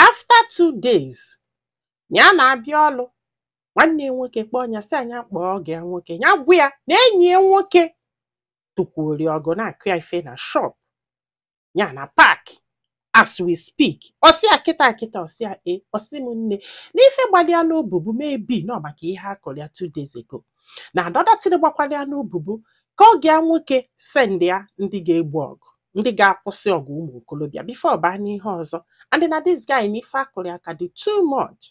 after two days ya na-abịa ọlụ nwanne ya nwoke kpọọ ya sị ya nya kpọọ ọgọ ya nwoke ya gwa ya na enyi ya nwoke tụkwuori ọgụ na-akụ ya ife na shop ya na park as we speak ọ sị ya kịta kịta ọ sị ya e ọ sị m nne n'ife gbalị ya n'obubu maybe na ọ maka ihe a kụrụ ya two days ago na anọda tiri gbakwala ya n'obubu ka ọgọ ya nwoke send ya ndị ga-egbo ọgụ ndị ga-akwụsị ọgụ ụmụ okolobịa before ọ baa n'ihe ọzọ and na this guy na ife a kụrụ ya ka dị too much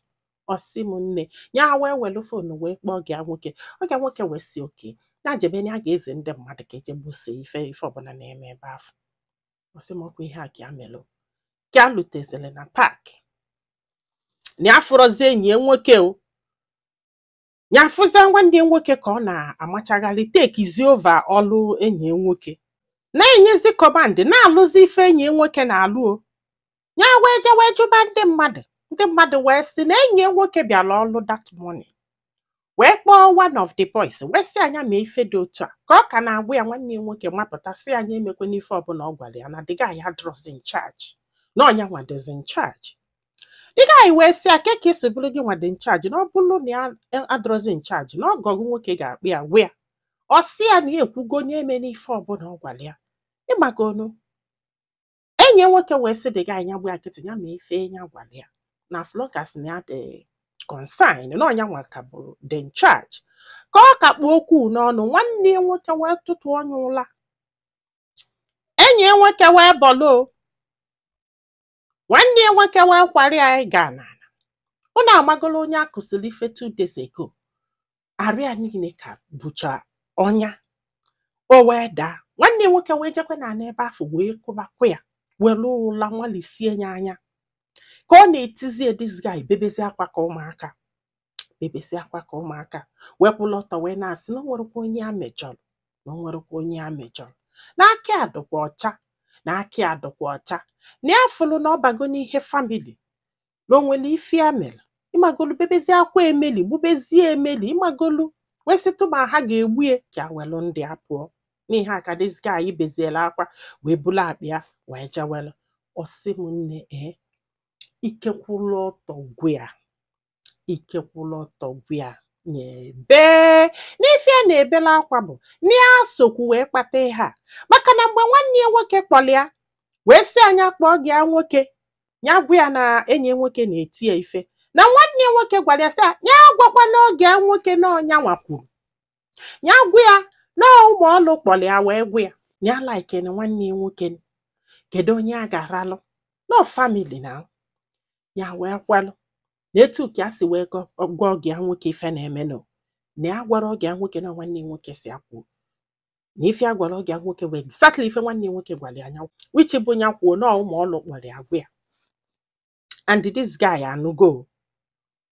ọ sị m nne ya wee welu phone wee kpọọ ọgọ ya nwoke ọgọ ya nwoke wee sị okay ya jebe na ya ga-ezi ndị mmadụ ka e je gbosie ife ọbụla na-eme ebe afụ ọ sị m ọ kwa ihe a ka ya melụ ka ya lutezere na park na ya afụrọzi enyi ya nwoke o ya afụzi nwanne ya nwoke ka ọ na-amachagharị takezi over ọlụ enyi ya nwoke na-enyezi command na-alụzi ife enyi ya nwoke na-alụ o ya wee je wee jụba ndị mmadụ ndị mmadụ wee sị na enyi ya nwoke bịara ọlụ that morning wee kpọọ one of the boys wee sị ya nya mee ife dị otu a ka ọ ka na-agwa ya nwanne ya nwoke mapụta sị ya nya emekwana ife ọbụla ọ gwara ya na the guy adịrọzi in charge na ọ nya nwa dịzi in charge the guy wee sị ya kee ka e si bụrụ gị nwa dị in charge na ọ bụrụ na ya adịrọzi in charge na ọgọ gị nwoke ga-akpọ ya gwa ya ọ sị ya na ya ekwugo nya emena ife ọbụla ọ gwara ya ịmakwanụ enyi ya nwoke wee sị the guy nya gba ya nkịtị ya mee ife ya gwara ya na as long as na ya dị concerned na ọ nya nwa ka bụ dị in charge ka ọ ka kpụ okwu n'ọnụ nwanne ya nwoke wee tụtụọ nya ụla enyi ya nwoke wee bọlụ nwanne ya nwoke wee kwara ya ịga n'ala ụnụ amagolo onye a kụsịrị ife two days ago arụ ya niile ka bụcha ọnya o wee daa nwanne ya nwoke wee jekwu ya n'ala ebe afụ wee kụbakwa ya were ụla nwalisie ya anya ka ọ na-etizi this guy bebezi akwa ka ụmụaka bebezi akwa ka ụmụaka wee kwụlụ ọtọ wee na-asị na o nwerọkwa onye ya mejọrọ na o nwerọkwa onye ya mejọrọ na aka ya dịkwa ọcha na aka ya dịkwa ọcha na ya fụlụ na ọ bago n'ihe family na o nwerọ ife ya mere ịmagolu bebezie akwa emeli gbubezie emeli ịmagolu wee sị tuma ha ga-egbu ya ka ya welụ ndụ ya pụọ n'ihe a ka this guy beziela akwa wee bulu akpa ya wee jewelụ ọ sị m nne ee ike kwụlụ ọtọ gwụ ya ike kwụrụ ọtọ gwa ya na-ebe n'ife ya na-ebela akwa bụ na ya sokwu wee kpata ihe a maka na mgbe nwanne ya nwoke kpọrọ ya wee sị ya nya kpọọ ọgọ ya nwoke ya gwa ya na enyi ya nwoke na-eti ya ife na nwanne ya nwoke gwara ya sị ya nya agwakwana ọgọ ya nwoke na ọ nyanwa kwuru ya gwa ya na ụmụ ọlụ kpọrọ ya wee gwa ya na ya like na nwanne ya nwoke kedu onye a ga-aralụ no family na ya wee kwalụ na etu ka ya si wee gọ- gwa ọgọ ya nwoke ife na-emenụ na ya gwara ọgọ ya nwoke na nwanne ya nwoke si ya kwuo na ife ya gwara ọgọ ya nwoke bụ exactly ife nwanne ya nwoke gwara nya which bụ ya kwuo na ụmụ ọlụ kpọrọ ya gwa ya and this guy anụgo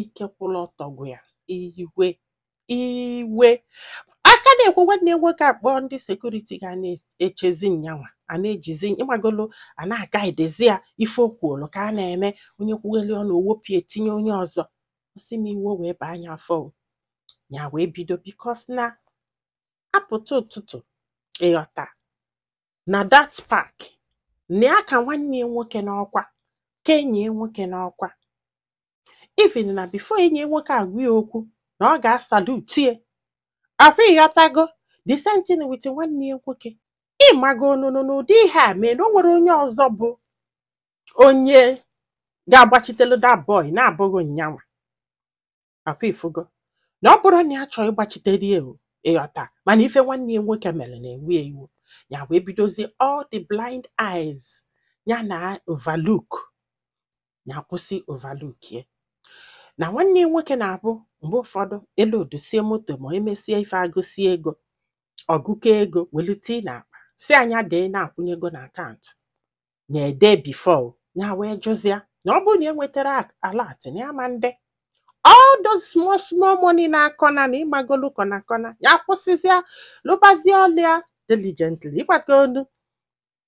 ike kwụrụ ọtọ gwụ ya iwe iwe ka a na-ekwu nwanne ya nwoke akpọọ ndị security ga na-echezi nyanwa a na-ejizi ịmagolo a na-aga idezi ya ife okwuolu ka a na-eme onye kwugheli ọnụ e wepụ ya e tinye onye ọzọ ọ sị m iwe wee baa nya afọ o. ya wee bido because na apụta ụtụtụ ịghọta na that park na ya ka nwanne ya nwoke n'ọkwa ka enyi ya nwoke n'ọkwa even na before enyi nwoke agwa ya okwu na ọ ga-asalute ya akwa ịghọtago the same thing with nwanne ya nwoke ịmagonunu n'ụdị ihe a mee na o nwere onye ọzọ bụ onye ga-agbachitelu that boy na-abụghị nyanwa akwa ifugo na ọ bụrụ na ya chọọ ịgbachitere ya o, ịghọta mana ife nwanne ya nwoke mere na-ewe ya iwe ya wee bidozie all the blind eyes ya na overlook ya kwụsị overlook ya na nwanne ya nwoke na-abụ mgbe ụfọdụ e loadusie moto ma emesie ife agụsie ego ọ gụkọọ ego welu tie na akpa sị nya dee na-akwụnye ego na akaụntụ na ede before ya wee jụzịa na ọ bụrụ na enwetarọ alert na ya ama ede all those small small money na corner na ịmagolu corner corner ya kwụsịzịa lụbazie ọlụ ya diligently ịmagonu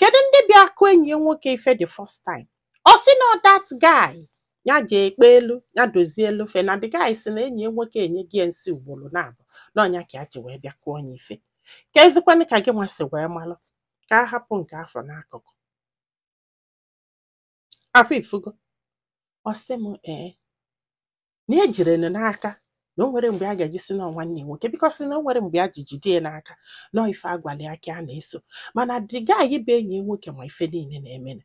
kedu ndị bịa kụ enyi ya nwoke ife the first time ọ sị na that guy ya ji ekpe elu ya dozie elu fe na the guy si na enyi ya nwoke enyego ya nsi ugboro naabọ na ọ nya ka ya ji wee bịa kụọ nya ife kezikwanụ ka gịnwa si wee malụ ka a hapụ nke afụ n'akụkụ Akwa ifugo. Ọ sị m ee na ejirọ nya n'aka na o nwere mgbe a ga-eji sị na ọ nwanne ya nwoke because na o nwere mgbe e ji jide ya n'aka na ọ ife a gwalụ ya ka ya na-eso mana the guy bụ enyi ya nwoke ma ife niile na-emenụ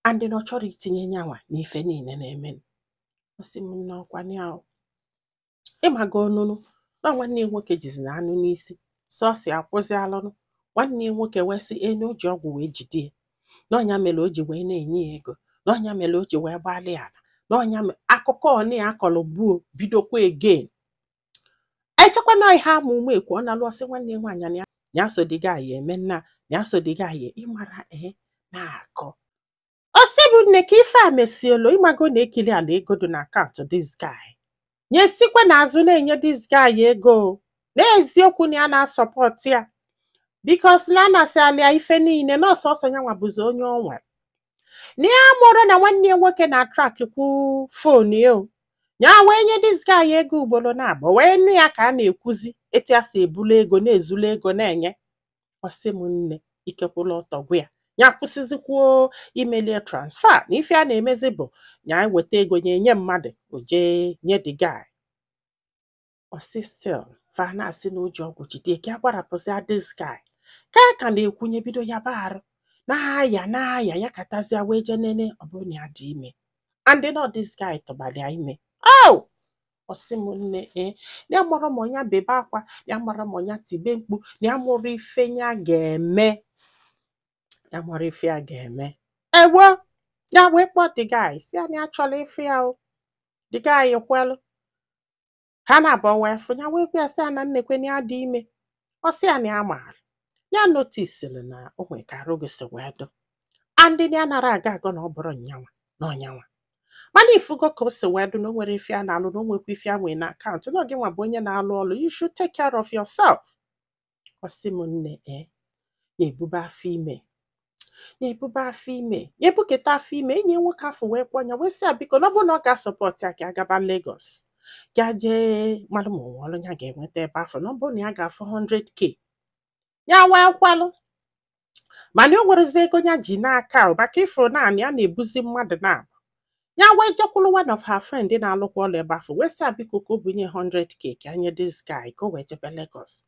and na ọ chọrọ itinye nyanwa na ife niile na-emenụ. Ọ sị m na ọ kwa ya o. ịmago ọ nụrụ na nwanne ya nwoke jizi na anụ n'isi sọsị akwụzi alụnụ nwanne ya nwoke wee sị na o ji ọgwụ wee jide ya na ọ nya mere o ji wee na-enye ya ego na ọ nya mere o ji wee gbalị ala na ọ nya mere akụkọ ọnị ya akọrọ gboo bidokwa again echekwa na ihe ama ume ekwu ọ na-alụ ọ sị nwanne ya nwaanyị na ya ya so the guy eme nna ya so the guy ịmara ee na-akọ ọ sị mụ nne ka ife a mesielo ịmago na ekiri ala ego dị na akaụntụ this guy nya esikwa n'azụ na-enye this guy ego o. n'eziokwu na ya na-asupport ya because na anasịala ya ife niile na ọ sọsọ ya nwa bụzi onye o nwere na ya amarọ na nwanne ya nwoke na-atrack kwu fon ya o ya wee nye this guy ego ugboro na abụọ wee nụ ya ka a na-ekwuzi etu ya si ebulu ego na-ezulu ego na-enye ọ sị m nne ikekwụla ọtọ gwa ya ya kwụsịzikwuo imeli ya transfer na ife a na-emezi bụ ya weta ego nye nye mmadụ o jee nye the guy ọ sị still fa na-asị na o ji ọgwụ jide ka a gwa ya rapụzi this guy ka a ka na-ekwu nya ebido yaba arụ na-aya na-aya yakatazia wee jee nene ọ bụrụ na ya dị ime and na ọ this guy tụbara ya ime oh ọ sị m nne ee ya amarọ ma ọ nya bebe akwa ya amarọ ma ọ nya tibe mkpu ya amarọ ife ya ga-eme ya amarọ ife ya ga-eme ewo ya wee kpọọ the guy sị ya na ya chọrọ ịfụ ya o the guy kwelụ ha naabọ wee fụ ya wee gwa ya sị ya na nekwe na ya dị ime ọ sị ya na ya maara ya notisiri na o nwere ka arụ gị si wee dụ and na ya anarọ aga agọ na ọ bụrọ nya nwa na ọ nya nwa mana ị fụgo ka o si wee dụ na o nwerọ ife ya na-alụ na o nwekwa ife ya nwe na akaụntụ na ọ gị nwa bụ onye na-alụ ọlụ you should take care of yourself ọ sị m nne ee nya ebube afọ ime ya ebube afọ ime ya ebuketa afọ ime enyi ya nwoke afụ wee kpọọ ya wee sị ya biko na ọ bụrụ na ọ ga-asupport ya ka ya gaba Lagos ka ya jee malụ ma o nwe ọlụ ya ga-enweta ebe afụ na ọ bụrụ na ya ga-afụ 100k ya wee kwalụ mana o nwerọzi ego ya ji n'aka o, maka ị fụrụ naanị ya na-ebuzi mmadụ naabọ ya wee jekwuru one of her friend na-alụkwa ọlụ ebe afụ wee sị ya biko ka o bunye 100k ka ya nye this guy ka o wee jebe Lagos